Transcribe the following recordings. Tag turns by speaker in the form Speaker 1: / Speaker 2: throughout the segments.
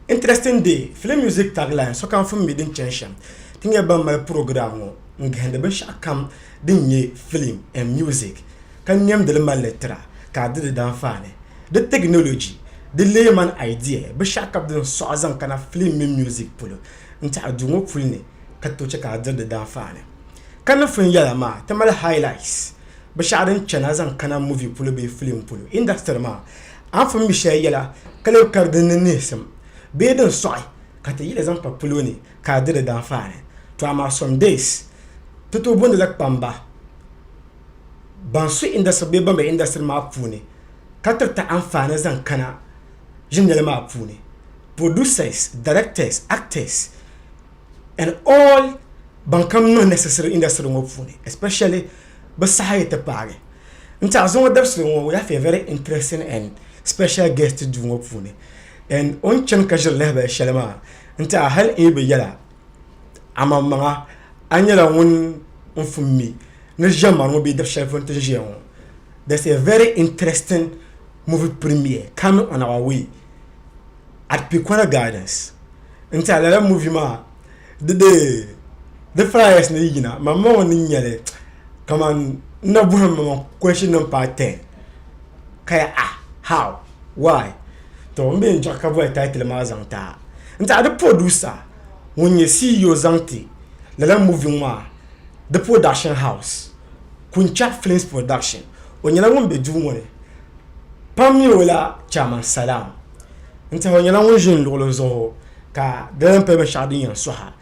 Speaker 1: Interesting day, Film Music Tagline, Sokam Fum Mi Din Chani Shem, Ti nyɛ ban mali purogiram ŋɔ n-gahindi binshɛɣu kam din nyɛ filim and music, ka nɛmdi li mali li tira ka a di di danfaani, di teginoloji, di leeman idea, binshɛɣu ka bɛ zaŋ sɔɣi zaŋ kana filim mini music polo n-ti a duu ŋɔ puli ni ka tooi chɛ ka a diri di danfaani. Kanifin yɛla maa ti mali highlights, binshɛɣu din chani a zaŋ kana movie polo bee filim polo industry maa Anfooni shɛli yɛla ka lee kari din ni nihisim bee din sɔɣi ka ti yiɣi zaŋ pa palo ni ka a di di daanfaa ni. To amaa some days ti tooi booni la kpamba ban su industry bee ban be industry maa puuni ka tiriti anfaani zaŋ kana ʒinjali maa puuni, producers, directors, actors. banka niŋ ni sisiri inda siri ŋɔ puuni especially bɛ saha yi ti paagi n tiɛhi zuŋɔ dabisili ŋɔ we have a very interesting and special guest duu ŋɔ puuni and o ni chani ka ʒiri lahabali shɛli maa n tiɛha hali n yi bi yɛla amaŋmaŋa a ni nyɛla ŋun n fum mi ni ʒiɛmani ŋɔ bee dabshɛli polo ni ti ʒiya ŋɔ there's a very interesting movie premiere coming on our way. at pikwara guidance n tiɛha lala muvi maa di dee di flyers ni yina ma ma ŋɔ ni nyɛli kaman n na bɔhi ma ma question nima paai ten ka ya ah how why to m mi yɛn chaɣi ka bɔhi title maa zaŋ ti a n tiɛha di producer ŋun nyɛ CEO zaŋ ti lala muvi ŋɔ maa di production house Kunchab films production o nyɛla ŋun be duu ŋɔ ni. pam mi o la chairman Salam n tiɛhi o nyɛla ŋun ʒi n luɣuli zuɣu ka di lahi pali binshɛɣu din yɛn suha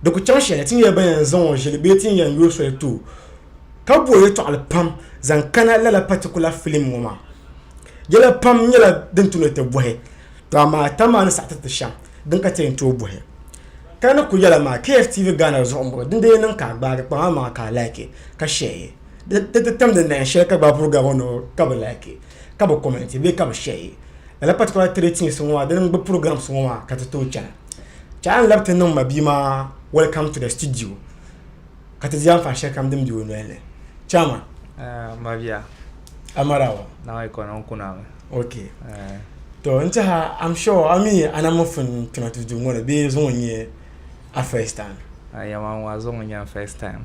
Speaker 1: di ku chaŋ shɛli ti ni yɛli ban yɛn zaŋ o ʒili bee ti ni yɛn yo soli too ka bo yɛltɔɣali pam zaŋ kana lala particular film ŋɔ maa yɛla pam nyɛla din ti ni ti bɔhi to amaa tani maa ni saɣi tiriti shɛm din ka ti yɛn tooi bɔhi ka di ni kuli yɛla maa KFTV Ghana zuɣu n bɔŋɔ din dii niŋ ka a gbaagi kpaŋa maa ka a like ka share di ti tamdi nayin shɛli ka gbaai vuri gabi ŋɔ ni o ka bi laaki ka bi kɔmɛnti bee ka bi shɛyi lala patikula tiri tiisi ŋɔ maa di mini bi purɔgirams ŋɔ maa ka ti tooi chana ka a ni labi ti niŋ ma bia maa wɛlkam tu dɔ stidiyo ka ti di anfaani shɛli kam din bɛ o noli ni chaama Mabiya
Speaker 2: amarawa
Speaker 1: naɣa ikɔni n
Speaker 2: kuna mi ok
Speaker 1: to n tiɛha am sure a mi ana mi fin kpɛma ti duu ŋɔ ni bee zuŋɔ n nyɛ a first time a yɛma ŋɔ a
Speaker 2: zuŋɔ n nyɛ a first time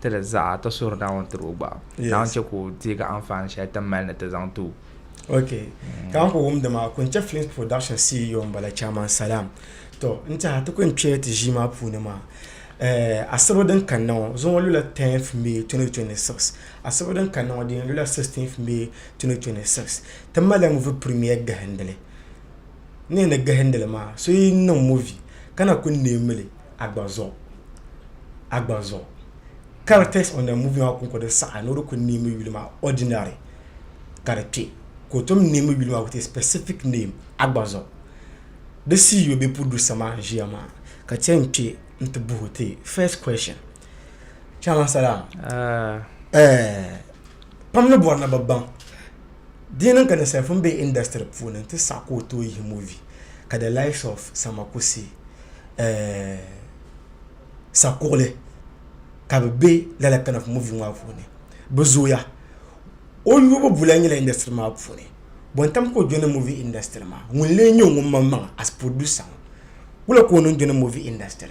Speaker 2: ti di zaɣa ti suhuri Naawuni tiri o gba. Naawuni chɛ ka o deegi anfaani shɛli ti ni mali ni ti zaŋ ti o. Ok,
Speaker 1: ka n ku wumdi maa, Kunchɛ Films Production CEO m-bala Chairman Salam. Tɔ! N tɛha ti ku yɛn kpɛya ti ʒii maa puuni maa. Eh, asibo din kanna ŋɔ, zuɣu ŋɔ lula 10th May 2026. Asibo din kanna ŋɔ di yɛn lula 16th May 2026. Ti malila movie premiere gahindili. N ni yɛn ni gahindi li maa, so yi niŋ movie ka na ku neemi li, Agbanzɔ Agbanzɔ Characters on the movie maa kɔŋko din saɣi a ni o di kuli neemi yuli maa ordinary ka di kpe ka o tom neemi yuli maa with a specific name Agbanzɔ Di CEO bee producer maa n-ʒiya maa ka ti yɛn kpe nti buhi o ti first question Chairman Salam, Ɛɛh pam ni bɔri ni bɛ baŋ. Di niŋ ka ninsali pun be industry puuni nti saɣi ka o tooi yihi movie ka the likes of Samakusi, eh, Sakuɣili ka bɛ be lala kind of movie ŋɔ maa puuni. Bɛ zooya. O yubu bulan nyɛla industry maa puuni. Bontam ka o jɔni movie industry maa. Ŋun leei nyɛ o ŋun maŋmaŋa as producer ŋɔ. Wula ka o niŋ jɔni movie industry.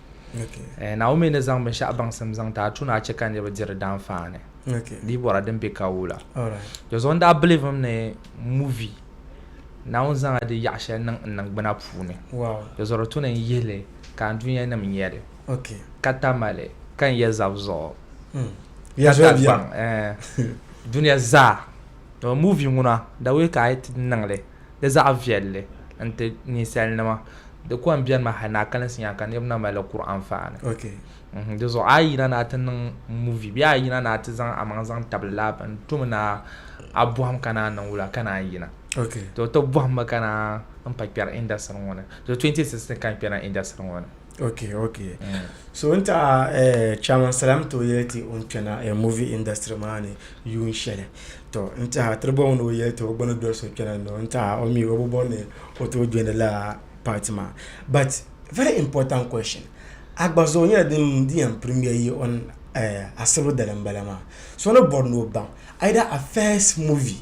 Speaker 1: Naomi ni zaŋ
Speaker 2: binshɛɣu baŋsim zaŋ ti a tuuni a chɛ ka niriba diri daanfaani bia bɔra din
Speaker 1: be ka
Speaker 2: wula. Dɔzuɣu n
Speaker 1: daa bilivim
Speaker 2: ni muvi Naawuni zaŋla di yaɣi shɛli niŋ n niŋgbuna puuni dɔzuɣu di tuuni
Speaker 1: n yihi
Speaker 2: li ka n dunia nim nya li ka
Speaker 1: tamali
Speaker 2: ka n ya zab zuɣu ka
Speaker 1: ta gbaŋ dunia
Speaker 2: zaa. Muvi ŋuna dawei ka a yi ti niŋ li. Di zaɣ viɛlli n-ti ninsalinima. Di kɔŋ bɛnimi hali ni a kalinsi nya ka niriba na mali li kuri anfaani. N-hmm. Di
Speaker 1: zuɣu a yi
Speaker 2: yina ni a ti niŋ movie bee a yi yina ni a ti zaŋ a maŋ zaŋ tabili laa bini n-to mi ni a bɔhim ka naan niŋ wula ka naan yina. To ti
Speaker 1: bɔhim mi ka
Speaker 2: naan m-pa kpɛri industry ŋɔ ni. To 2016 ka n kpɛri na industry ŋɔ ni. ok ok
Speaker 1: so n taɣa chairman salam to yɛli ti o ni kpɛna movie industry maa ni yuun shɛli to n tiɛha tiriba o ni o yɛli ti o gba ni doli so kpɛna ni o ni tiɛha o mi o bi bɔri ni o tooi jɔli lala part maa but very important question a gba zuɣu nyɛla din yɛn premier yi o ni asiru dali n bala maa so ni bɔri ni o baŋ either a first movie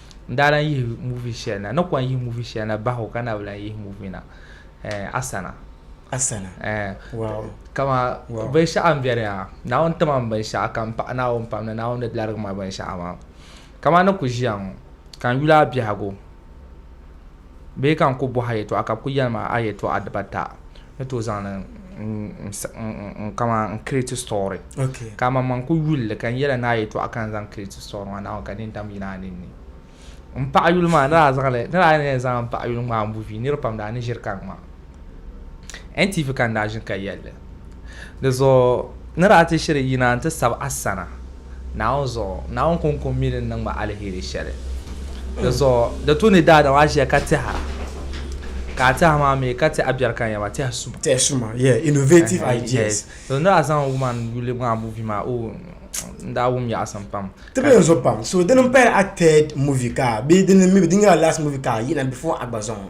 Speaker 2: n daa lan yihi muvi shɛli na ni kɔŋ yihi muvi shɛli na bahi o ka na bi lan yihi muvi na eh, asana asana
Speaker 1: eh, wow. kama
Speaker 2: wow. binshɛɣu n bɛni ha naawuni tima n binshɛɣu ka n paɣi naawuni pam ni naawuni ni larigi ma binshɛɣu maa kama ni ku ʒiya ŋɔ ka n yuli a biɛhigu Bee ka n ku bɔh a yɛtɔɣa ka bɛ ku yɛli ma a yɛtɔɣa dibata ni tooi zaŋ li n kaman n create story. Ka amanmaŋ
Speaker 1: ku yuli
Speaker 2: li ka n yɛl a ni a yɛtɔɣa ka n zaŋ create story maa Naawuni ka di ni dam yina a ninni. M paɣiyuli maa ni daa zaŋ li ni daa ni yɛn zaŋ m paɣiyuli ŋmaai muvi nir pam daa ni ʒiri ka ŋma. NTV ka n daa ʒini ka yɛli li. Di zuɣu ni daa ti shiri yina nti sabi a sana Naawuni zuɣu, Naawuni kɔŋko mi din niŋ ma aliheri shɛli. Di zuɣu di tu ni daadam a ʒiya ka tɛha, ka a tɛha maa mi ka ti a biɛri ka yɛma tɛhi suma. Tɛhi suma, yeah, innovative
Speaker 1: ideas. Di ni daa zaŋ woman
Speaker 2: yuli maa movie maa, oh, n daa wum yaɣisim pam. Ti be n zuɣu pam. So
Speaker 1: dini m-pahila a third movie ka, bee dini mi bi, di nyɛla last movie ka a yina before a gba zaŋ o?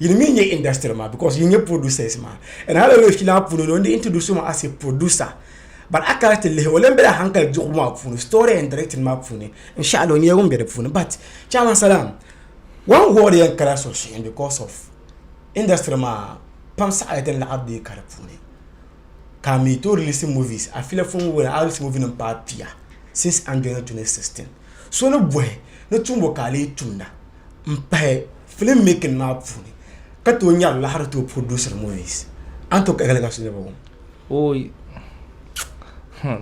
Speaker 1: Yili mi nyɛ industry maa because yili nyɛ producers maa and hali o yuli maa puuni no n di introduce o maa as a producer but a kana ti lihi o lan bela hankali diɣu maa puuni story and directing maa puuni n-shɛɣili o nyɛla ŋun be di puuni but chairman salaam one word yɛn kana suhuyini because of industry maa pam saɣiri din laɣiri deei ka di puuni ka mi tooi release movies a filia fo ŋun a release movie nim paai pia since Andoyani 2016 so ni bɔhi ni tumbu ka a lee tumda. n pahi filim making maa puuni ka tooi nyari laɣiri tooi produce movies an tooi kahigi ka so nya bɔŋɔ. Ooyi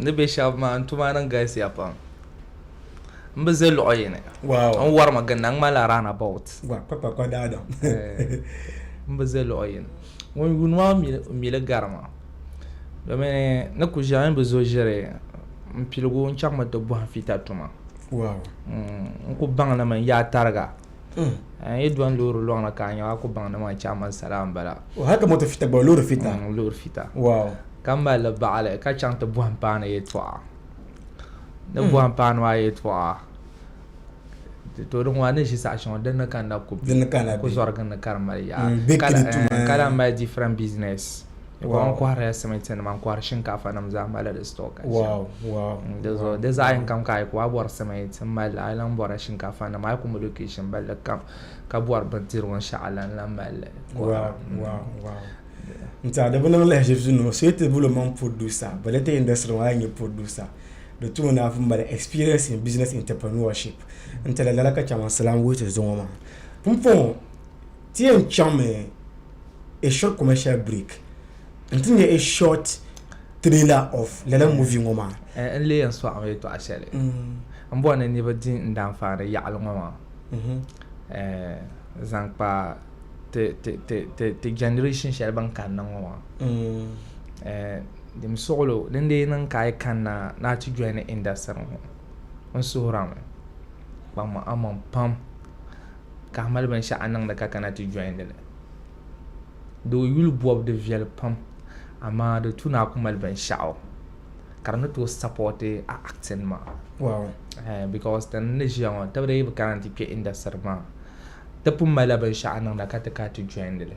Speaker 2: ni be shɛba maa n tuma niŋ galisiya pam n bi ʒe luɣ yini n wari mi
Speaker 1: ginda n ŋmanila
Speaker 2: round about eh,
Speaker 1: n
Speaker 2: bi ʒe luɣ
Speaker 1: yini
Speaker 2: ŋun yuuni maa mi li garima. domin ni ku ʒiɛɣu ni bi zo ʒiri n piligu n chaŋmi ti bɔhim fiita tuma
Speaker 1: n ku
Speaker 2: baŋnimi n yaa tariga n yi dɔni loori lɔŋni ka a nya a ku baŋnimi a chaŋ mani sala m-bala haka moto fita gba
Speaker 1: loori fita loori fita ka mali
Speaker 2: baɣali ka chaŋ ti bɔhim paanu yɛltɔɣa ni bɔhim paanu maa yɛltɔɣa ti toori ŋɔ a ni ʒi saɣa shɛŋa din ni kanna ku bɛ ku zɔrigi ni ka di mali yaɣa mm, ka lahi mali different business n kɔhirila simiti nima n kɔhiri shinkaafa nim zaa mali di store ka mm,
Speaker 1: di
Speaker 2: zaɣ yini kam ka a yi ku a bɔri simiti n mali a lahi bɔrila shinkaafa nima a yi ku mi location balli kam ka bɔri bindirigu n shɛɣu la n lahi mali mm.
Speaker 1: Nti a di bi niŋ lahiʒibisi nima o so ti bolo man producer but later industry maa nyɛ producer di tuma ni afu mali experience in business entrepreneurship n tala lala ka chama salam wuhi ti zuŋɔ maa pumpɔŋɔ ti yɛn chaŋmi a short commercial break n ti nyɛ a short trailer of lala movie ŋɔ maa eh, n lee yɛn sɔɣimi
Speaker 2: yɛtɔɣa shɛli mm. n bɔri ni niriba di n daanfaani yaɣali ŋɔ maa mm-hmm. eh, zaŋ kpa ti generation shɛli ban kanna ŋɔ maa mm. eh, Dim suɣulo din lee niŋ ka a yi kanna ni a ti jɔini indasiri ŋɔ, n suhirami. Kpaŋmi Ammon pam ka a mali binshɛɣu a ni niŋdi ka kana ti jɔindi li. Di o yuli bɔbu di viɛli pam amaa di tu ni a ku mali binshɛɣu ka di ni tooi sapɔti a acting maa. Wow. Ehe
Speaker 1: because ti
Speaker 2: ni ʒiya ŋɔ tibiri yi bi kana nti kpe indasiri maa ti pun malila binshɛɣu a niŋda ka ti ka ti jɔindi li.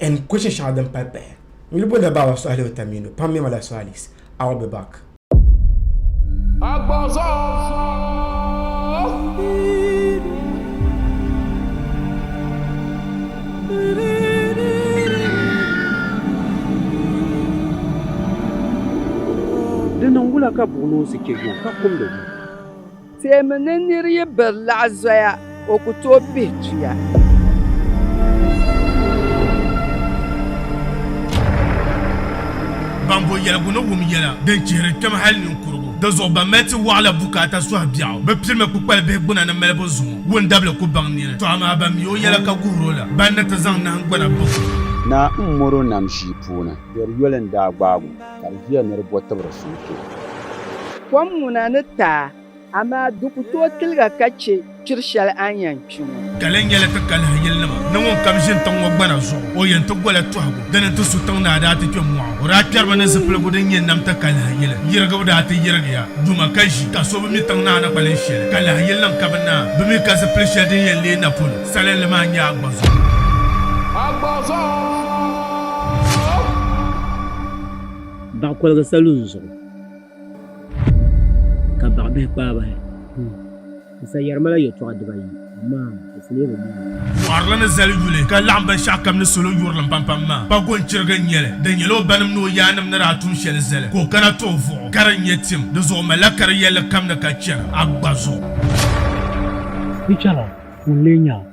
Speaker 1: and question shɛŋa din pahi pahi n yuli booni la Baaba Sɔhili Otamiino pam mɛma la Sɔhalis I'll be back.
Speaker 3: Di niŋ wula ka buɣinoosi chɛ yuŋ ka kumdi wum? Teemi
Speaker 4: ni nir yi biri laɣ zoya, o ku tooi pihi tuya.
Speaker 5: Ban bo yɛligu ni wum yɛla din chihiri kpɛm hal ninkurigu. Dinzuɣu ban mali ti wɔɣila bukaata sɔhi biɛɣu bi pirimi kpukpali bihi gbuna ni malibu zuŋɔ. Wundabili ku baŋ nini, tɔ amaa ban mi o yɛla ka guhir o la, ban ni ti zaŋ nahingbana baŋ o. Naa m-mɔr
Speaker 3: o nam ʒii puuni. Biɛri yoli n-daa gbaag o. Ka di viya ni di bo tibiri sunsuu. Kom
Speaker 4: ŋuna ni taai, amaa di ku tooi tiliga ka chɛ kpiri shɛli a ni yɛn kpi ŋɔ. Ka lɛn nyɛla ti kalihi
Speaker 5: yilinima ni ŋun kam ʒini tiŋ ŋɔ gbana zuɣu, o yɛn ti gola tɔhigu. Di ni ti su tiŋ ni a daa ti kpe mɔɣu. O daa kpɛriba ni zipiligu din nyɛ nam ti kalihi yili. Yirigibu daa ti yirigiya duma ka ʒi, ka so bi mi tiŋ ni a ni kpalihi shɛli. Kalihi yilinim ka bi naai bi mi ka zipili shɛli din yɛn leei na polo. Salinli maa n-nyɛ Agbɔzɔɔ. Agbɔzɔɔ!
Speaker 6: baɣa koligi salun zuɣu ka baɣa bihi kpaa bahi n sa yɛri mala yɛltɔɣa dibayi amaa di fulee bi mali Fɔrili ni zali
Speaker 5: yuli ka laɣim binshɛɣu kam ni salo yurilim pampam maa, pa gɔnchiriga n-nyɛli. Di nyɛla o banim ni o yaannim ni daa tum shɛli zali ka o kana ti o vuɣu ka di nyɛ tim. Di zuɣu o malila kari yɛlli kam ni ka chɛri Agba zuɣu.
Speaker 6: Di chɛra ŋun lee nya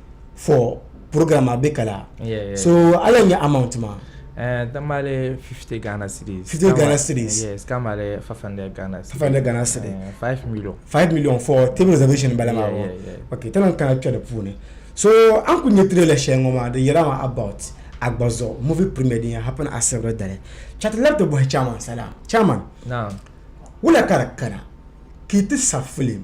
Speaker 1: for program a bɛ kala so
Speaker 2: ala nya
Speaker 1: amount ma ɛɛ dan b'ale 50
Speaker 2: Ghana cedis 50 Ghana cedis
Speaker 1: yes kan b'ale 500
Speaker 2: Ghana cedis 500 Ghana cedis 5
Speaker 1: million 5
Speaker 2: million for
Speaker 1: table reservation bala ma awɔ ok tana n
Speaker 2: kana kpɛ di
Speaker 1: puuni so an kuli nyɛ trailer shɛli ŋɔ maa di yɛla ma about agbazɔ movie premier din yɛn happen asibiri dali chati labi ti bɔhi chairman sala chairman
Speaker 2: wula ka di
Speaker 1: kana ka yi ti sa film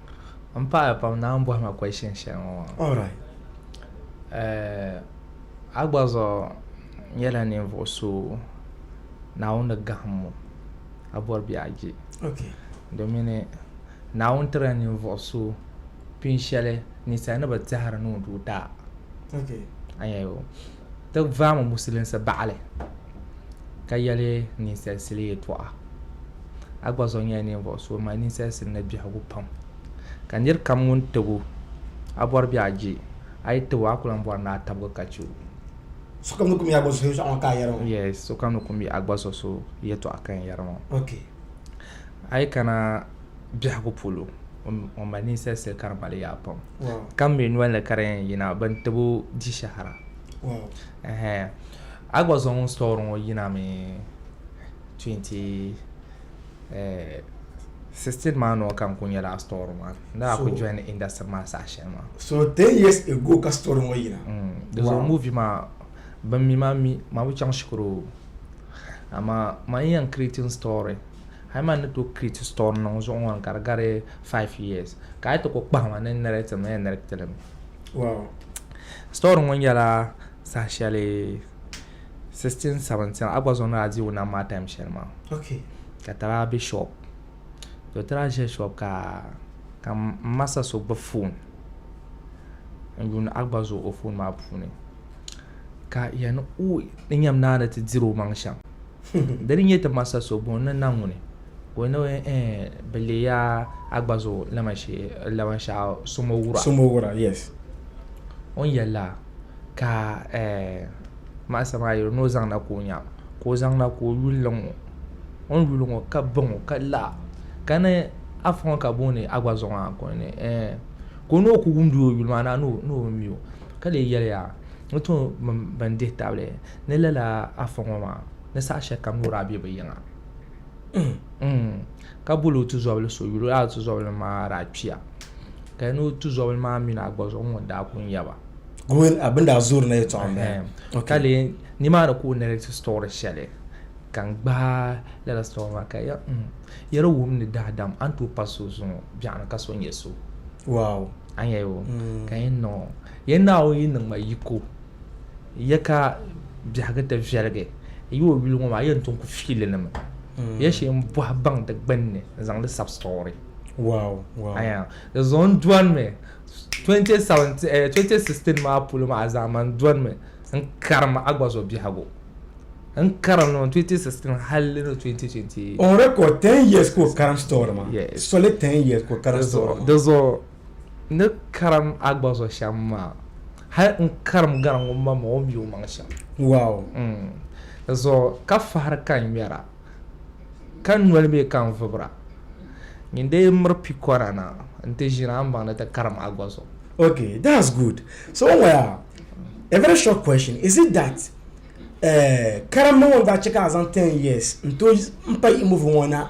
Speaker 2: M paɣaya pam naan bɔhi ma question shɛli ŋɔ maa. All right.
Speaker 1: Eh,
Speaker 2: a gba zuɣu nyɛla ninvuɣu so Naawuni ni gahim mo ka bɔri bɛ a je. Okay.
Speaker 1: Domin
Speaker 2: Naawuni tirila ninvuɣu so pin shɛli ninsali ni bi tɛhiri ni o doo daa. Okay.
Speaker 1: Anya yo.
Speaker 2: ti vaami musilinsi baɣili ka yɛli ninsalisili yɛtɔɣa. A gba zuɣu nyɛla ninvuɣ so mali ninsalisili ni biɛhigu pam. Ka nir kam ŋun tib o, a bɔri bɛ a je, a yi tib o, a ku lan bɔri ni a tabigi ka chɛ o. Sokam
Speaker 1: ni kum yi a gba zuɣu so yɛtɔɣa ŋɔ ka a yɛri ŋɔ. Yes, sokam ni kum yi
Speaker 2: a gba zuɣu so yɛtɔɣa ka n yɛri ŋɔ. Ok.
Speaker 1: A yi
Speaker 2: kana biɛhigu polo, ŋun mali ninsalisili ka di mali yaa pam. ka mi nolini
Speaker 1: ka di
Speaker 2: yɛn yina bin tib o di shɛhira a gba zaŋ story ŋɔ yinami 2016 eh, maa nɔ ka n ku nyɛla story maa ni a ku join industry maa saha shɛli maa so 10 years
Speaker 1: ago ka story ŋɔ yina mm. di zuɣu movie
Speaker 2: maa bin mi maa mi maa bi chaŋ shikuru amaa ma n yɛn creating story Hali man ni to create store niŋ zuɣu ŋɔ ka di gari 5 years ka ayi ti ko kpahima ni narrate mi ni narrate li mi wow
Speaker 1: store
Speaker 2: ŋɔ nyɛla saha shɛli 16 17 a gba zuɣu ni a diigu nam maa time shɛli maa okay ka
Speaker 1: tara be
Speaker 2: shop to tara ʒe shop ka ka masa so gbubi phone n yuuni a gba zuɣu o phone maa puuni ka yani o ni nyam naani ti diri o maŋ shɛm Di ni nyɛ ti ma sa so bɔŋ ni na ŋuni, ka o ni eh, bi leei a a gba zuɣu laban shɛɣu sumo wura. Sumo wura, yes.
Speaker 1: O ni
Speaker 2: yɛli la, ka eh, maɣisa maa yɛli ni o zaŋ na ka o nya, ka o zaŋ na ka o yuli li ŋɔ. O ni yuli ŋɔ, ka ba ŋɔ, ka la, ka ni a fa ŋɔ ka booni a gba zuɣu maa, ka o ni eh, ka o ni o ku wumdi o yuli maa na ni o mi o, ka lee yɛli ya, n tooi mini bɛn dihi tabili. Ni lala Afa ŋɔ maa ni saha shɛli kam loori a bɛ bi yiŋa ka boli o tuzɔbili so yuli lala tuzɔbili maa daa kpiya ka di ni o tuzɔbili maa mini a gba zuɣu ŋun daa ku n yaba bin daa
Speaker 1: zoori na yɛtɔɣa n bala ka lee
Speaker 2: nimaani ka o narrate story shɛli ka n gbaai lala story maa ka yɛli wum ni daadam a ni tooi pa so zuŋɔ biɛɣuni ka so nyɛ so a
Speaker 1: ni yɛli o
Speaker 2: ka yɛn niŋ o yɛn naawuni yi niŋ ma yiko Ya ka biɛhigu ti viɛligi yi o yuli ŋɔ maa, ya n-ti ku fiilinima. Ya shee m-bɔhi baŋ di gbinni n-zaŋ di sab story. Wow, wow.
Speaker 1: Aya, di
Speaker 2: zuɣu n-dɔnimi 2017, eh, 2016 maa polo maa zaa man dɔnimi n-karim Agbazo biɛhigu. N-karim li ni 2016 hal ni 2020. On record, 10
Speaker 1: years ka o karim story maa. Yes. Soli 10 years
Speaker 2: ka o
Speaker 1: karim story maa. Di zuɣu.
Speaker 2: ni karim a gba zuɣu shɛm maa, hal n karim gari ŋun ma ma o mi o maŋ shɛm. Wow!
Speaker 1: Di
Speaker 2: zuɣu ka fahiri ka n ŋmɛra, ka noli mi ka n vibira. Nyin dee miri pikɔra na nti ʒini a ni baŋ ni ti karim a gba zuɣu. Ok, that's
Speaker 1: good. So n waya, a very short question, is it that eh, karimbu ŋɔ n daa chɛ ka a zaŋ ten years n-tooi m-pa yiɣimbu ŋɔ na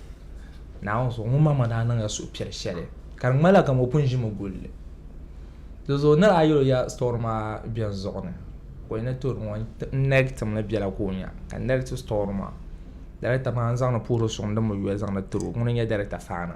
Speaker 2: Naawuni zuɣu ŋun maŋmaŋ daa niŋla suhupiɛl shɛli ka di ŋmanila kamani o pun ʒimi guli li. Dizuɣu nir a yɛl o ya sitɔri maa beni zuɣu ni ka o yi ni tooi ŋɔ n-nɛri tim ni biɛla ka o nya, ka n nɛri ti sitɔri maa darigitabana n-zaŋdi puhiri suŋdi mi yuya zaŋdi tiri o. Ŋuni n-nyɛ darigitabana?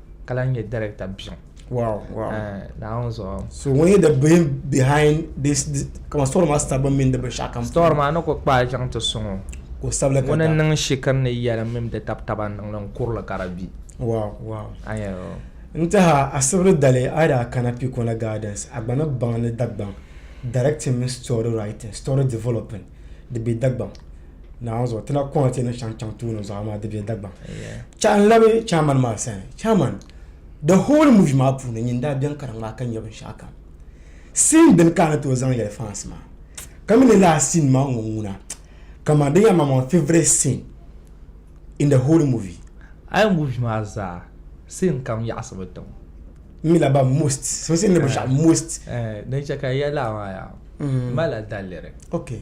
Speaker 2: ka lahi nyɛ director biɛŋ wow wow eh,
Speaker 1: naawuni
Speaker 2: zuɣu so ŋun nyɛ
Speaker 1: the brain behind this kama story maa sita bin mini di binshaɣu kam story maa ni ku kpaai
Speaker 2: chaŋ ti suŋo ka o sabili ka ŋuni
Speaker 1: n niŋ shikiri ni
Speaker 2: yɛlim mini di tabi taba n niŋli n kurili ka di bi wow wow
Speaker 1: a yɛn yɛli
Speaker 2: n tiɛha
Speaker 1: asibiri dali a daa kana pikona gardens a gba ni baŋ ni dagbaŋ directing mini story writing story developing di be dagbaŋ naawuni zuɣu ti na kɔŋ ti ni shɛŋa chaŋ tooni zuɣu amaa di be Dagbaŋ chaɣ n labi chairman maa sani chairman the whole movie maa puuni nyin daa beni ka di ŋmaai ka nya binshɛɣu kam scene beni ka a ni tooi zaŋ yɛli fans maa ka mi ni last scene maa ŋɔ ŋuna kaman di nyɛla maa my favourite scene in the whole movie a yi movie maa
Speaker 2: zaa scene kam yaɣisimi tiŋ n mi la ba
Speaker 1: most so scene ni binshɛɣu most din chɛ ka n yɛli
Speaker 2: a maa yaa m malila daliri okay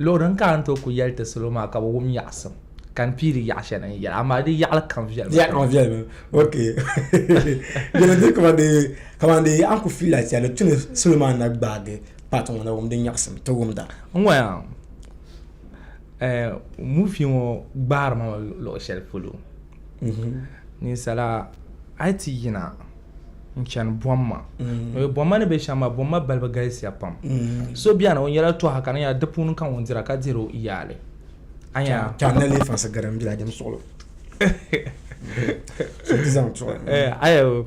Speaker 2: Luɣ din ka a ni tooi ku yɛli ti salo maa ka bɛ wum yaɣisim, ka n piiri yaɣ shɛli n yɛli, amaa di yaɣili kam viɛli mi
Speaker 1: pam. Ok. Dina n-diri kaman dee a ni ku fiila ti a ni tu ni salo maa na gbaagi paati ŋɔ na wum din yaɣisim ti wumda. N ŋɔ ya
Speaker 2: muuvi ŋɔ gbaari ma mi luɣ shɛli polo. Ninsala a yi ti yina. n chani bɔmma mm. bɔmma ni be shɛm maa bɔmma balibu galisiya pam mm. so bɛni o nyɛla tɔha ka nyɛla di puuni ka ŋun dira ka diri o yaali anya tɔhana le fasi
Speaker 1: gari n bila jɛm suɣulo eh, ayo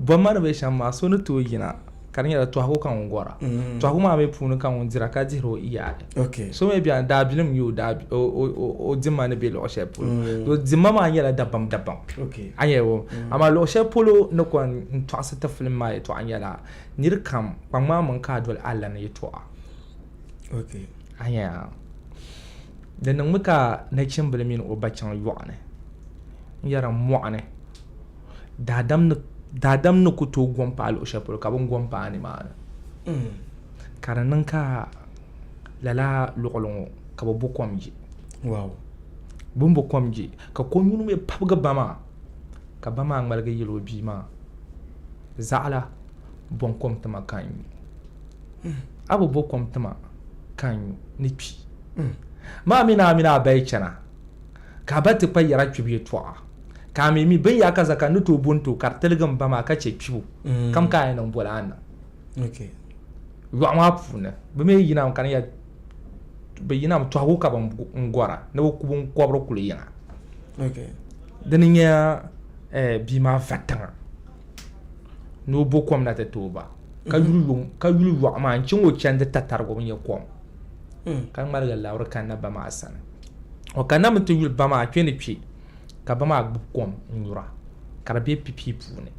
Speaker 2: bɔmma ni be shɛm maa so ni tooi yina ka di nyɛla tɔhigu ka ŋun gɔra mm-hmm. tɔhigu maa mi puuni ka ŋun dira ka dihiri o iyaali so mi bɛni
Speaker 1: daabilim
Speaker 2: n-nyɛ o dimma ni be luɣ shɛli polo mm-hmm. dimma maa nyɛla dabam dabam a nyɛ
Speaker 1: o mm-hmm. amaa
Speaker 2: luɣ shɛli polo ni kɔn n-tɔɣisi ti filim maa yɛtɔɣa nyɛla niri kam kpaŋmaŋ mini ka a doli Allah ni yɛtɔɣa
Speaker 1: a nyɛ
Speaker 2: di niŋmi ka nachimbila mini o ba chaŋ yɔɣuni n-yɛra mɔɣuni daadam ni daadam ni ku tooi gom paai luɣu shɛli polo ka bin gom paai nimaani mm. ka di niŋ ka lala luɣuli ŋo ka bi bo kom ji wow.
Speaker 1: bin bo
Speaker 2: kom ji ka ko nyuni mii pabigi ba maa ka ba maa ŋmaligi yili o bia maa zaɣala bɔn kom tima ka n nyu mm. a bi bo kom tima ka n nyu ni kpi mm. maa mini a mini a bayi chɛna Ka a ba ti kpa yɛra kpibu yɛtɔɣa, ka a mi mi binyaka zaa ka n ni tooi bo n ti o, ka di tiligi m ba maa ka chɛ kpibu kam ka a yɛn niŋ boli a ni niŋ
Speaker 1: yɔɣu
Speaker 2: maa puuni. Bɛ mi yinami ka ni ya bɛ yinami tɔhigu ka bɛ n gɔra ni bɛ ku biŋkɔbiri kuli yiŋa.
Speaker 1: Di ni nya
Speaker 2: bia maa va tiŋa ni o bo kom na ti ti o ba, ka yuli yɔɣu maa n-chaŋ o chandi tatariga o ni nya kom. hmm. ka ŋmaligi labiri kanna ba maa sani o kanna mi ti yuli ba maa kpe ni kpe ka ba maa gbubi kom n nyura ka di be pipii puuni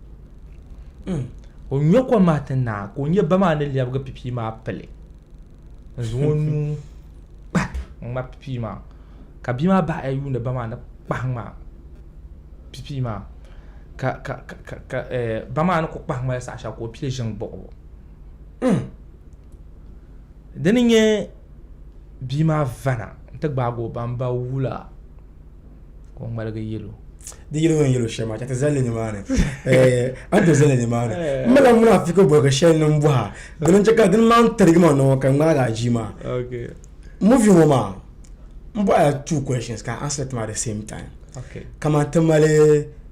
Speaker 2: hmm. o nyɔ kom maa ti naai ka o nyɛ ba maa ni lɛbigi pipii maa pili n zaŋ o nuu kpa n ŋma pipii maa ka bia maa bahi ya yuuni ba maa ni kpahi ŋma pipii maa ka ka ka ka eh, ba maa ni ku kpahi ŋmali saɣa shɛli ka o pili ʒini gbuɣibu hmm. Di ni nyɛ bia maa vana n ti gbaagi o baŋ ba wula ka o ŋmaligi yɛl o. Di yɛligu ni yɛl o
Speaker 1: shɛm maa, chɛ ti zali li nimaani. A ni ti zali li nimaani. N malila munaafiku boligu shɛli ni n bɔh a, dina n-chɛ ka dini maa ni tarigi ma ni ka n ŋmaagi a jia maa.
Speaker 2: Movie ŋɔ
Speaker 1: maa, m bɔh a la two questions ka a answer it maa the same time. Kamani ti
Speaker 2: mali.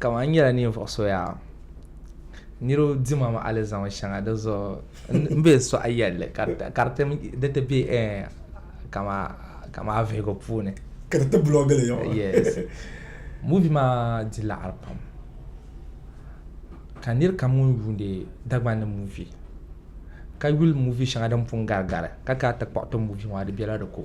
Speaker 2: Kamani n nyɛla ninvuɣu so yaa niriba dima maa alizama shɛŋa di zuɣu n bɛ suɣa yɛlli ka di ti bɛ kamani avihigu puuni ka di ti bulɔɔgi li muuvi maa di laɣiri pam ka niri kam ŋun yuuni Dagban ni muuvi ka yuli muuvi shɛŋa din pun gari gari ka kana ti kpuɣi ti muuvi maa di bɛla di ko.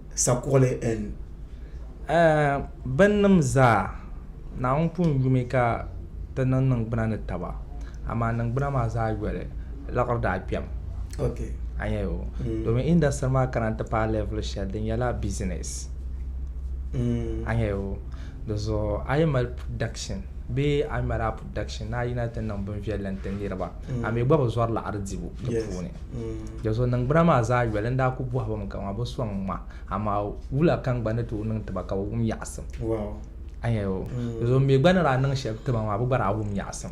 Speaker 1: sakuɣili N. Ɛɛh! Binnima
Speaker 2: zaa! Naawuni pun yumi ka ti niŋ niŋgbuna ni taba, amaa niŋgbuna maa zaa yoli laɣiri daa kpɛm. Ok. A
Speaker 1: nya ya o?
Speaker 2: Domin industry maa kana n-ti paai level shɛli di nyɛla business. A nya ya o? Di zuɣu a yi mali production bee a yi mali a production ni a yina ti niŋ binviɛlli n-ti niriba, a mi gba bi zɔri laɣiri dibu di puuni. Dɔzuɣu niŋgbuna maa zaa yoli n daa ku bɔhi ba mi ka ŋɔ bi sɔŋ ŋma amaa wula ka n gba ni tooi niŋ ti ba ka bi wum yaɣisim. A
Speaker 1: nya ya o.
Speaker 2: Dɔzuɣu n mi gba ni daa niŋ shɛli ti ba maa bi gba daa wum yaɣisim.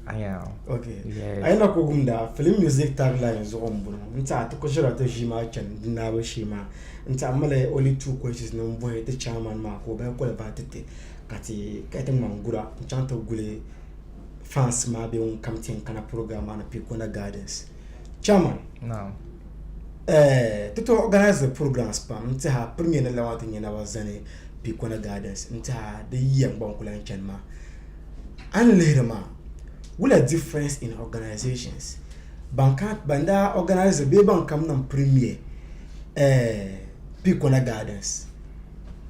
Speaker 1: A nya
Speaker 2: ya
Speaker 1: o. Yes. A yi lahi ku
Speaker 2: wumda,
Speaker 1: Film Music Tagline zuɣu m-bɔŋɔ. N tehi a ti ku ʒiri a ti ʒii maa chani di naai bu shee maa. N tehi a mali only two questions ni m-bɔhi ti chairman maa ka o bahi koliba ti ti ka ti ŋmani gura n-chaŋ ti guli fans maa bɛ ŋun kam ti kana program maa ni Pikuna Gardens chairman
Speaker 2: eh,
Speaker 1: ti tooi organize programs pam n tiha premier ni lawa ti nyɛ naba zani Pikuna Gardens n tiha di yiya n gba n kula n chani maa a ni lihiri maa wula difference in organizations ban ka ban daa organize bee ban kam niŋ premier eh, Pikuna Gardens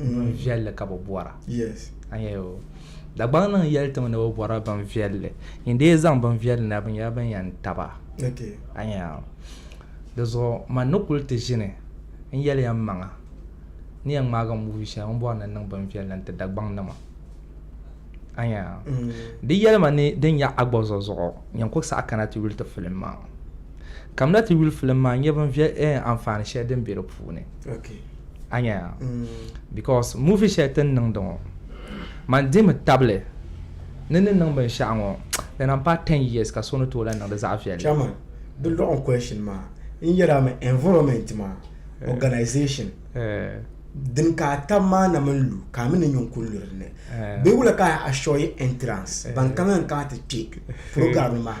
Speaker 2: mm. bin viɛlli ka bi bɔra dagbaŋ niŋ yɛli tiŋ ni bi bɔra bin viɛlli n dee zaŋ bin viɛlli na bi nyɛla bin yɛn taba di zuɣu man ni kuli ti ʒini n yɛli yɛn maŋa ni yɛn ŋmaagi muuvi shɛli n bɔri ni niŋ bin viɛlli n ti dagbaŋ nima anya mm. di yɛlima ni din nyɛ agbɔzɔ zuɣu yɛn kuli saɣa kana ti yuli ti filim maa kamina ti yuli filim maa nyɛ bin viɛl eh, anfaani shɛli din bɛ di puuni
Speaker 1: a nya ya
Speaker 2: mm. because movie shɛli ti ni niŋdi ŋɔ man dimi tabili ni ni niŋ binshɛɣu ŋɔ di na pa 10 years ka so ni tooi lahi niŋdi zaɣ viɛlli chairman di lɔɣim
Speaker 1: question maa n yɛra mi environment maa eh. organization eh. din ka a tab maa na mini lu ka a mi ni nyun kun luri ni eh. bee wula ka a shɔyi entrance ban kaŋa n kana ti kpe program maa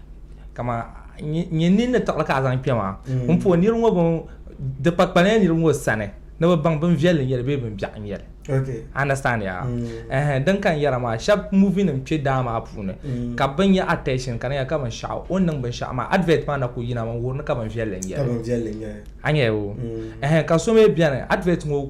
Speaker 2: kama nyɛ ninni tiɣili ka a zaŋ kpɛ maa mm. n puhi niriba ŋɔ bin di kpakpalila niriba ŋɔ sani ni bi baŋ bin viɛlli nyɛli bee bin biɛɣu nyɛli understand
Speaker 1: ya mm.
Speaker 2: din kan yɛra maa shɛba movie nim kpɛ daa maa puuni mm. ka bin nyɛ attention ka niŋya ka binshaɣu o ni niŋ binshaɣu maa advert maa na ku yina mi n wuhiri ni ka bin viɛlli nyɛli
Speaker 1: a
Speaker 2: nyɛ
Speaker 1: o
Speaker 2: ka so mi bɛni advert ŋɔ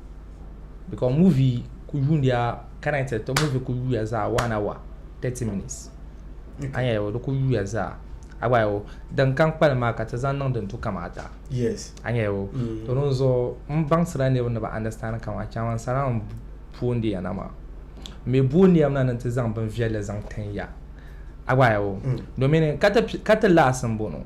Speaker 2: because movie ku yuundiya current to movie ku yuya zaa one hour thirty minutes an yɛ o di ku yuya zaa a gba yɛ o din kan kpalim maa ka ti zaŋ niŋ din tu kama ata yes an yɛ
Speaker 1: o mm.
Speaker 2: to din zuɣu n baŋsira niriba ni ba understand kama chaman sara n boondiya na maa mi boondiya na ni ti zaŋ bin viɛlli zaŋ tin ya a gba yɛ o mm. domin ka ti laasi n bono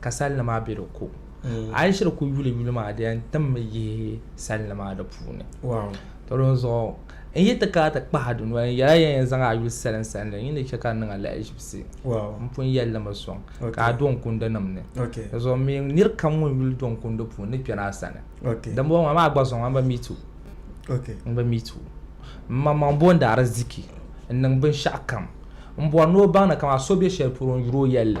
Speaker 2: ka salini maa bɛ di ko a yi shiri ku yuli yuli maa di yɛn timmi yihi salini maa di puuni to di
Speaker 1: zuɣu
Speaker 2: n yi ti kana ti kpahi di noli n yɛla yɛn yɛn zaŋ a yuli salin salin li ni chɛ ka niŋ alahiʒibisi n pun yɛlli
Speaker 1: mi soŋ
Speaker 2: ka a do n kundi nim ni di zuɣu mi
Speaker 1: niri kam
Speaker 2: ŋun yuli do n kundi puuni ni kpɛri a sani dimbɔŋɔ maa maa
Speaker 1: gba zuɣu ŋan
Speaker 2: ba mi tu n ba
Speaker 1: mi tu
Speaker 2: n maŋmaŋ boondi ariziki n niŋ binshɛɣu kam n bɔri ni o baŋ ni ka maa so bɛ shɛli polo n yuri o yɛlli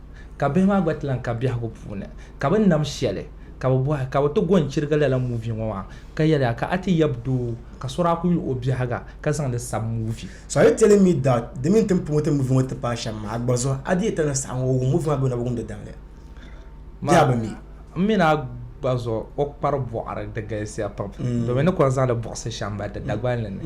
Speaker 2: ka bihi maa gba ti lan ka biɛhigu puuni, ka bɛ nam shɛli, ka bɛ bɔhi, Ka bɛ ti go n-chirigi lala muuvi ŋɔ maa? Ka yɛli a, Ka a ti yab doo ka so daa ku yuli o biɛhiga ka zaŋ li sab muuvi? So are telling me
Speaker 1: that di mini ti ni promote movie ŋɔ ti paai shɛm maa, a gba zuɣu a di yɛta ni saɣim o wum movie maa bee o na bi wumdi daŋli? Di yaa bi mi. M mini a
Speaker 2: gba zuɣu o kpari bɔɣiri di galisiya pam domin ni kɔŋ zaŋdi buɣisi shɛm mali di Dagbani ni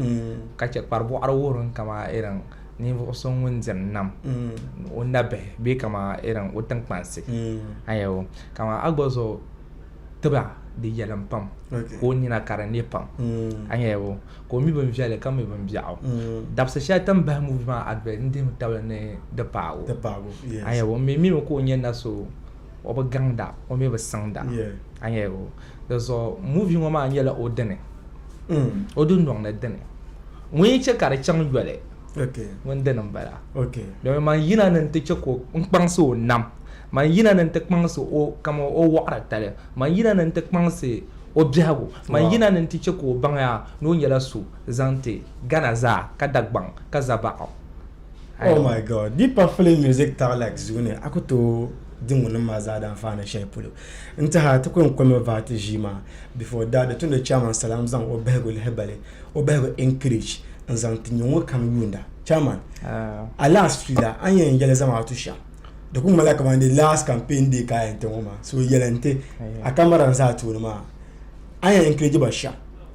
Speaker 2: ka chɛ kpari bɔɣiri wuhiriŋ kaman irin ninvuɣu so ŋun diɛm nam mm. o nabihi bee kama irin o tiŋkpansi mm. ayawo kama a gba zo tiba di yɛlim pam ka o nina ka di ne pam mm. ayawo ka o mi bin viɛli ka mi bin biɛɣu dabisi shɛli tin bahi muvi maa advert n dihim tabili ni di paago ayawo mi mi ka o nyɛ na so o bi gaŋda o mi bi siŋda a nyɛ o di zuɣu muvi ŋo maa nyɛla o dini mm. o dundoŋ ni dini ŋun yi chɛ ka di chaŋ yoli ŋun dini n bala domi man yina ni n ti chɛ ka n kpaŋsi o nam man yina ni n ti kpaŋsi o kama o waɣari tali man yina ni n ti kpaŋsi o biɛhigu man yina ni n ti chɛ ka o baŋya ni o nyɛla so zaŋti gana zaa ka dagbaŋ ka zabaɣu Oh my
Speaker 1: God, be puffling music Tarlac zuu ni a ku tooi di ŋunim maa zaa daa faana shɛli polo. N tɛha ti ku yɛn kɔmi vaati ʒii maa before daa di tumdi Chairman Salam zaŋ o bahigu lihi bali, o bahigu encourage n zaŋ ti nyuŋo kam yuunda. Chairman, a last suya a ni yɛn yɛli Zamaatu shɛm di ku ŋmanila kamani di last campaign day ka a yɛn ti ŋɔ maa so yɛli n ti a kamara n za a tooni maa a ni yɛn encourage ba shɛm.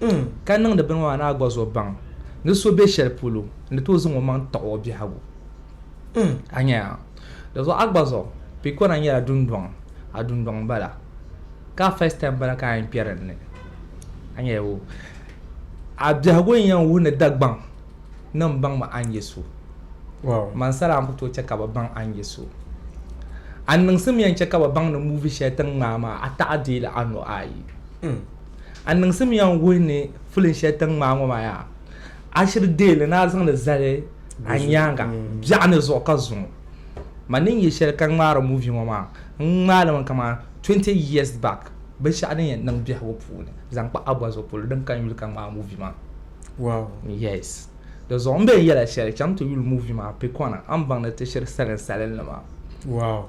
Speaker 2: N ka niŋdi bini maa ni a gba zo baŋ ni so be shɛli polo n ni tooi zaŋ o maŋ taɣi o biɛhigu. N, a nya a. Di zuɣu a gba zo Pikona nyɛla dundɔŋ, a dundɔŋ m-bala. Ka a first time m-bala ka a yɛn kpɛri n ni. A nya o. A biɛhigu n yɛn wuhi ni Dagbaŋ ni m baŋmi a ni nyɛ so.
Speaker 1: Mansala a ni ku tooi
Speaker 2: chɛ ka bɛ baŋ a ni nyɛ so. A niŋsim yɛn chɛ ka bɛ baŋ ni movie shɛli ti ni ŋmaai maa a taɣi deei li anu ayi. A niŋsimya n-wuhi ni filiŋ shɛli ti ŋmaai ŋɔ maa yaa, a shiri deei li ni a zaŋ li zali a nyaaŋa biɛɣu ni zuɣu ka zuŋ ma ni n-nyɛ shɛli ka ŋmaari muvi ŋɔ maa, n ŋmaai li mi kamani 20 years back binshɛɣu din yɛn niŋ biɛhigu puuni zaŋ kpa Aguazo polo din ka n-yuli ka ŋmaai muvi maa. Wow!
Speaker 1: Yes.
Speaker 2: Di zuɣu m-be n yɛla shɛli, cham ti yuli muvi maa Pikɔna a ni baŋ ni ti shiri saliŋ salinli maa. Wow!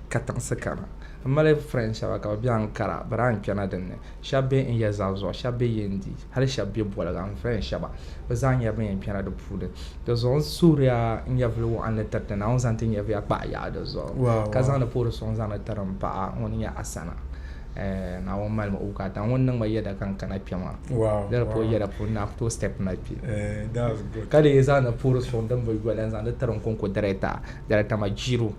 Speaker 2: katiŋsi kana. M mali friend shɛba ka bɛ be Ankara bɛ daa n-kpɛna din ni. Shɛba be n ya zaa zuɣu, shɛba be Yendi, hali shɛba be Boliga n friend shɛba. Bɛ zaa nyɛla ban yɛn kpɛna di puuni. Di zuɣu n suhiri ya n nyɛvili wɔɣinli tiriti Naawuni zaŋ ti nyɛviya kpahi yaɣi di zuɣu ka zaŋdi puhiri suŋ zaŋdi tiri m paɣa ŋun nyɛ Asana. Ɛɛh Naawuni mali ma o bukaata. Ŋuni niŋ ma yɛda ka n kana kpe maa. Di ni puhi yɛda puuni na a ku tooi step ma kpe. Ka
Speaker 1: di yi zaŋdi puhiri suŋ
Speaker 2: din bi yoli n zaŋdi tiri n konko director, Director Majiru.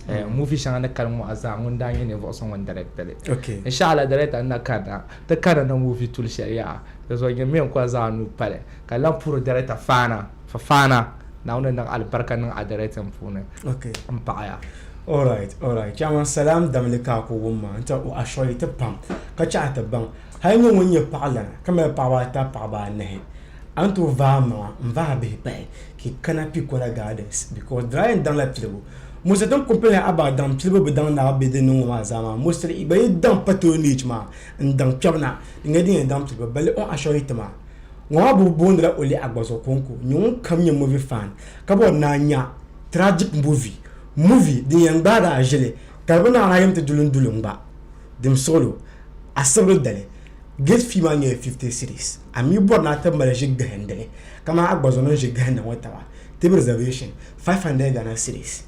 Speaker 2: Eh, mm. muvi shɛŋa ni kali ŋɔɣu zaa ŋun daa nyɛ ninvuɣu so ŋun dirɛktili okay. inshaalla dirɛkta
Speaker 1: n na
Speaker 2: karina ti karina muvi tuli shɛli yaha di zuɣu nyɛ mi n kɔli zaa nuu pali ka lan puhiri dirɛkta faana fa faana naawuni niŋ alibarika niŋ a dirɛktin puuni n paɣaya All right, all
Speaker 1: right. Chairman Salam Damli ka ko wumma nti o ashɔyi ti pam ka chaɣa ti baŋ hali nyɛ ŋun nyɛ paɣa lana ka mali paɣaba ata paɣaba anahi a ni tooi vaai maŋa n vaai bihi pahi ka yi kana Pikola Gardens because di daa yɛn daŋla pilibu. Mosiri din kumpi ni a ba daŋ pilibu bi daŋ ni a be din niŋ ŋɔ maa zaa maa, mosiri gba yi daŋ patronage maa n daŋ kpɛbu na di nyɛla din yɛn daŋ pilibu balli on assure it maa. Ŋɔ maa bubu boondila Ole Agbazo Konko, nyɛ ŋun kam nyɛ movie fan ka bɔri ni a nya tragic movie, movie din yɛn gbaagi a ʒili ka di bi naai a yɛm ti duli n duli n gba dim suɣilo a sibiri dali. Gate fee maa nyɛla 50 cedis. A mi bɔri ni a ti mali ʒi gahindili kamani a gba zuɣu ni ʒi gahinda ŋɔ taba tib reservation 500 Ghana cedis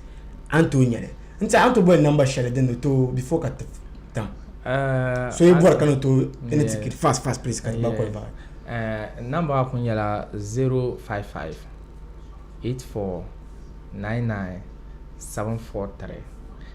Speaker 1: a ni tooi nyɛli. N tiɛhi a ni tooi boli number shɛli din ni tooi before ka ti tam. So yi bɔri ka ni tooi ni ticket fast fast please ka ti gba qualify. N number
Speaker 2: maa kuli nyɛla 055 84 99 743.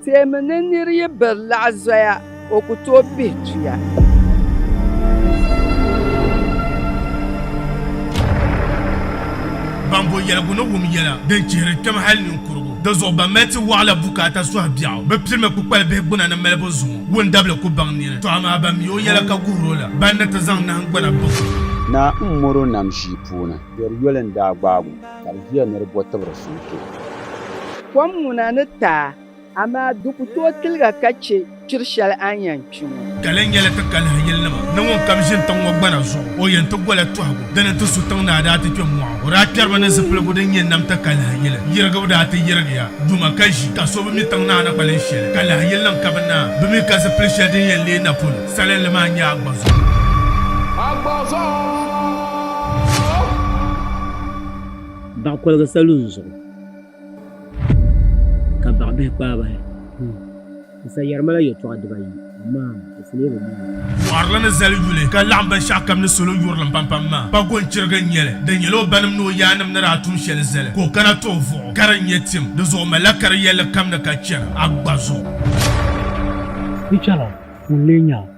Speaker 3: Teemi ni
Speaker 4: nir yi biri laɣ zoya, o ku tooi pihi tuya.
Speaker 5: Ban bo yɛligu ni wum yɛla din chihiri kpɛm hal ninkurigu di zuɣu, ban mali ti wɔɣila bukaata sɔhi biɛɣu, bɛ pirimi kpukpali bihi gbuna ni malibu zuŋɔ wundabili ku baŋ nini. Tɔ amaa ban mi o yɛla ka guhir o la, ban ni ti zaŋ nahingbana biɣi o. Naa m-mɔr
Speaker 3: o nam ʒii puuni. Dɔr yoli n-daa gbaag o. ka di ʒiya ni di bo tibiri sunsuu. Kom
Speaker 4: ŋuna ni taai, amaa di ku tooi tiliga ka chɛ kpiri shɛli a ni yɛn kpi ŋɔ. Ka lahi nyɛla ti kalihi
Speaker 5: yilinima ni ŋun kam ʒini tiŋ ŋɔ gbana zuɣu, o yɛn ti gola tɔhigu. Dina nti su tiŋ ni a daa ti kpe mɔɣu. O daa kpɛriba ni zipiligu din nyɛ nam ti kalihi yili. Yirigibu daa ti yirigiya duma ka ʒi, ka so bi mi tiŋ ni a ni kpalim shɛli. Kalihi yilinim ka bi naai bi mi ka zipili shɛli din yɛn leei napɔn salinli maa nyɛ Agbazuɣu.
Speaker 6: baɣa koligi salo n zuɣu ka baɣa bihi kpaai bahi n sa yɛri mala yɛltɔɣa dibayi amaa di sili bi mi Mɔɣirili ni zali
Speaker 5: yuli ka laɣim binshɛɣu kam ni salo yurilim pampam maa pa gɔnchiriga n-nyɛ li. Di nyɛla o banim ni o yaannim ni daa tum shɛli zali ka o kana ti o vuɣu ka di nyɛ tim. Di zuɣu o malila kari yɛlli kam ni ka chɛri Agba zuɣu. Pichara
Speaker 6: ŋun lee nya